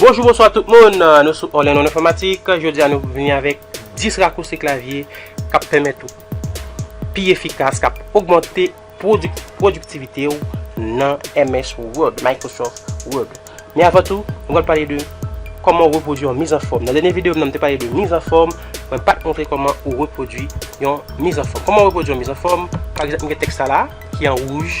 Bonjou bonswa tout moun, nou sou All in One Informatique, jodi a nou vini avèk 10 rakousi klavye kap pèmèt ou pi efikas, kap ogmante pwodiktivite ou nan MS Word, Microsoft Word. Men avan tou, nou pral pale de kòman repwodui yon mizanfòm. Nan dènye videyo m nan m te pale de mizanfòm, mwen pat montre kòman ou repwodui yon mizanfòm. Kòman repwodui yon mizanfòm, pa egzanp m gen tèks sa la ki an wouj,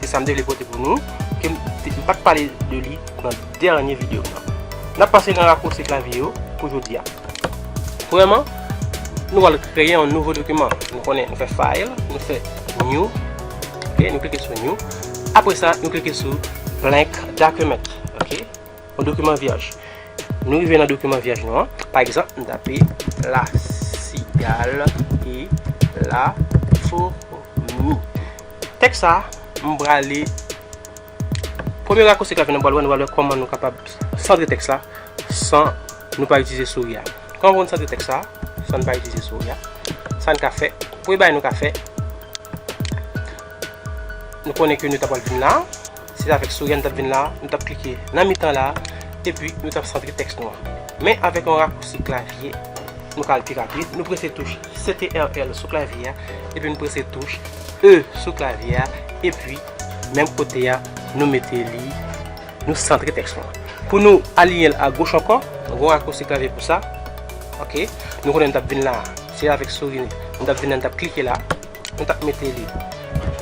Se sa m te vle pote pou nou, ke m pa t pale de li nan dènye videyo m nan. N ap pase nan rakwosi klavye yo pou jodi a. Premyèman, nou pral kreye yon nouvo dokiman. Nou konnen, nou fè File, nou fè New, ok, nou klike sou New. Apre sa, nou klike sou Blank Document, ok, yon dokiman vyèj. Nou rive nan dokiman vyèj nou an. Pa egzanp, m tape La Cigale et la Fourmi. Tèks sa a, m prale Premye rakosi k ap vini nan bwat wè, nou pral wè kòman nou kapab santre tèks la san nou pa itilize souri a. Kòman pou nou santre tèks sa a san nou pa itilize souri a? Sa n ka fè, premye bagay nou ka fè, nou konnen ke nou ta pral vin la. Se avèk souri a nou t ap vin la a, nou t ap klike nan mitan la a, epi nou t ap santre tèks nou an. Men avèk yon rakousi klavye, nou ka al pi rapid. Nou prese touch CTRL sou klavye a, epi nou prese touch E sou klavye a, epi menm kote a nou mete li, nou santre tèks nou an. Pou nou aliyen l agoch ankò, nou gen yon rakousi klavye pou sa. Ok, nou konnen nou t ap vin la a, se avèk souri nou t ap vin la a, nou t ap klike la a. nou tap mete li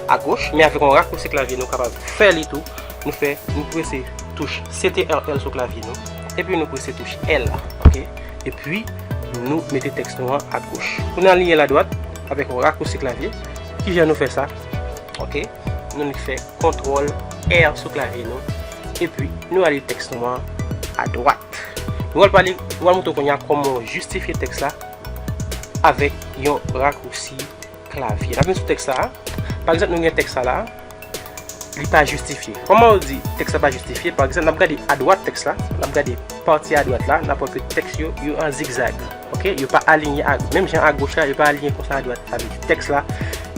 a goch men avèk yon rakousi klavye nou kapab fè li tou nou fè nou prese touch CTRL sou klavye nou epi nou prese touch L ok epi nou mete tèks nou an a goch pou nou aliyen l a dwat avèk yon rakousi klavye kijan nou fè sa ok nou li fè kontrol R sou klavye nou epi nou aliyen tèks nou an a dwat nou al pale nou al moutre w kounya kòman w jistifye tèks la. avèk yon rakousi klavye. N ap vin sou tèks sa a. Pa egzanp, nou gen tèks sa la a. Li pa jistifye. Kòman ou di tèks la pa jistifye? Pa egzanp, n ap gade adwat tèks la. N ap gade pati adwat la. N ap wè ke tèks yo, yo an zigzag. Ok? Yo pa alinye ak, menm jan agoch la, yo pa alinye konsa adwat. Sa vle di tèks la,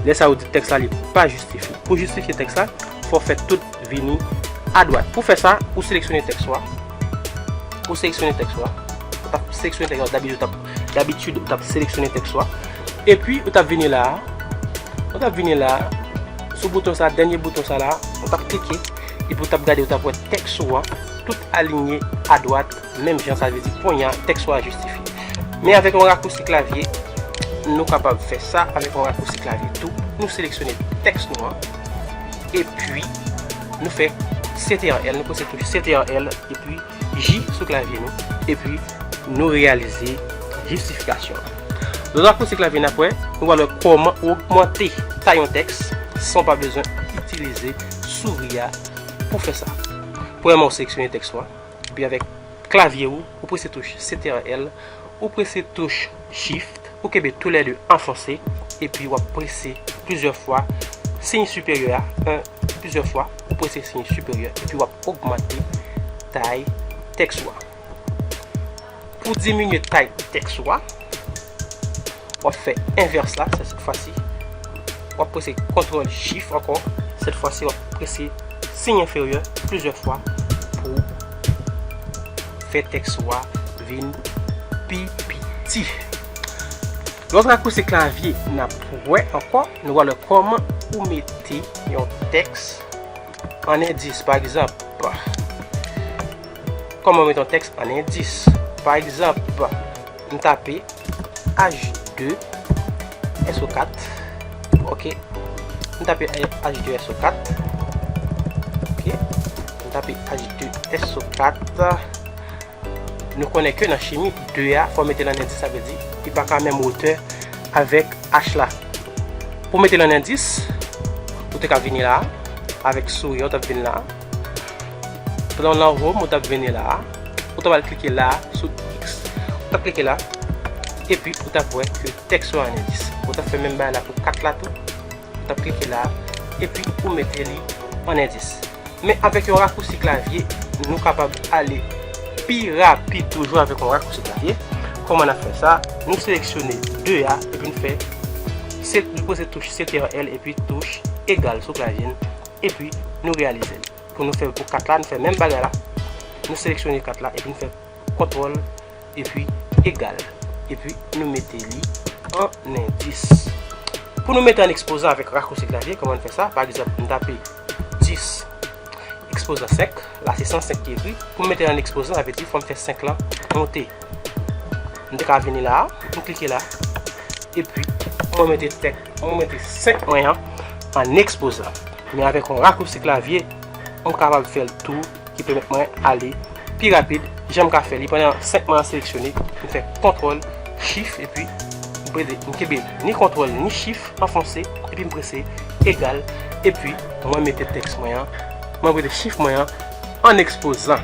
lè sa a ou di tèks la li pa jistifye. Pou jistifye tèks la, fò w fè tout vini adwat. Pou fè sa, ou seleksyone tèks ou a. Pou seleksyone tèks ou a, ou tap seleksyone tèks ou a dabitid ou tap dabitid ou tap seleksyone tèks ou a epi ou tap vini la a ou tap vini la a sou bouton sa a dènye bouton sa la a ou tap klike epi ou tap gade ou tap wè tèks ou a tout alinye adwat menm jan sa vle di konnya tèks ou a jistifiye men avèk yon rakousi klavye nou kapab fè sa avèk yon rakousi klavye tou nou seleksyone tèks nou an. Epi, nou fè CTRL, nou pwese touche CTRL, epi J sou klavye nou, epi nou reyalize jistifikasyon an. Lè nou apwoche klavye n ap wè, nou pral wè kòman ogmante tay yon tèks san w pa bezwen itilize souri a pou fè sa. Premyèman ou seleksyone tèks ou a. Epi avèk klavye ou, ou prese touch CTRL, ou prese touch Shift, ou kenbe tou lè 2 anfonse, epi w ap prese plizyè fwa siy siperyè a, 1, plizyè fwa, ou prese siy siperyè, epi w ap ogmante tay tèks ou a. Pou diminye tay tèks ou a, w ap fè envès la, se sèt fwasi, w ap prese kontwòl chif ankò, sèt fwasi w ap prese siy enferyè plizyè fwa pou fè tèks ou a vin pi piti. Lè w ap rakousi klavye, n ap wè ankò, nou pral wè kòman pou mete yon tèks. An endis, pa egzanp, Kòman met yon tèks an endis? Pa egzanp, m tape H2SO4, ok. M tape H2SO4, ok. M tape H2SO4. Nou konnen ke nan chimi, 2 a fò mete l an endis, sa vle di li pa ka menm wotè avèk H la. Pou mete l an endis, ou te ka vini la a, avèk souris an ou t ap vin la a. Pran nan home ou t ap vini la a, ou t ap al klike la a sou X. Ou t ap klike la, epi ou t ap wè ke tèks yo an endis. Ou t ap fè menm bagay la pou 4 la tou. Tap klike la epi ou mete li an endis. Men avèk yon rakousi klavye nou kapab ale pi rapid toujou avèk yon rakousi klavye. Kòman nap fè sa? Nou seleksyone 2 a epi nou fè nou poze touch CTRL epi touch egal sou klavye n epi nou reyalize l. Pou nou fè pou 4 la nou fè menm bagay la nou seleksyone 4 la epi nou fè. Kontwòl epi egal epi nou mete li an endis. Pou nou mete an ekspozan avèk rakousi klavye, kòman n fè sa? Pa egzanp, m tape 10 ekspozan 5, la se 105 ki ekri. Pou m mete l an ekspozan, sa vle di fò m fè 5 lan monte. M te ka vini la a, m klike la, epi mwen mete 5 mwen an an ekspozan. Men avèk yon rakousi klavye, m kapab fè l tou. ki pèmèt mwen ale pi rapid janm ka fè li pandan 5 man an seleksyone m fè kontrol chif epi m prese m kenbe ni kontrol ni chif anfonse epi m prese egal epi mwen mete tèks mwen an mwen prese chif mwen an an ekspozan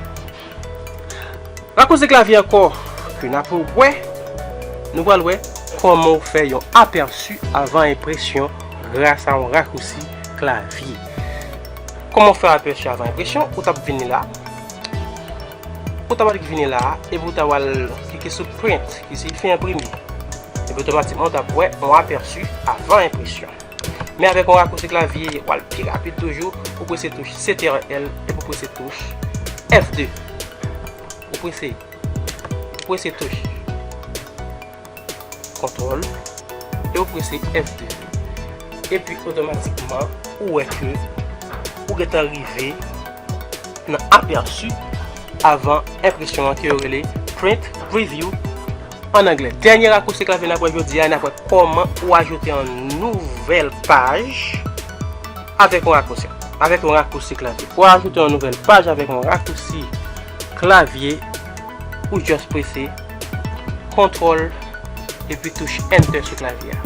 rakouze klavye ankò epi n apre w wè nou pral wè kòman w fè yon apèsi avan enpresyon grasa yon rakousi klavye. Kòman w fè apèchi avan enpresyon, ou tap vini la, ou ta pral vini la epi ou ta pral klike sou print ki siyifi enprime epi otomatikman ou tap wè yon apèchi avan enpresyon men avèk yon rakouti klavye ou pral pi rapid toujou ou prese touch CTRL epi ou prese touch F2 ou prese ou prese touch. Ctrl e ou prese F2 epi otomatikman ou wè ke ou gentan rive nan aperçu avan enpresyon an ke yo rele Print Preview an anglè. Dènye rakousi klavye nap wè jodi a, nap wè kòman ou ajoute yon nouvèl paj avèk yon rakousi, avèk yon rakousi klavye. Pou ajoute yon nouvèl paj avèk yon rakousi klavye, ou just prese. Kontrol epi touche Enter sou klavye a.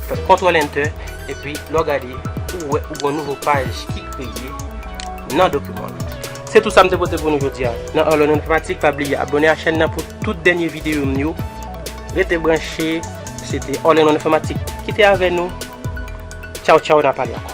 Fè kontrol Enter epi lè w gade ou wè ou gen yon nouvo paj ki kreye nan dokiman w lan. Se tout sa m te pote pou nou jodi a nan All on Informatik. Pa bliye abone a chèn nan pou tout dènye videyo m yo. Rete branche. Se te All on Informatik ki te avè nou. Tchaw tchaw nan pale ankò.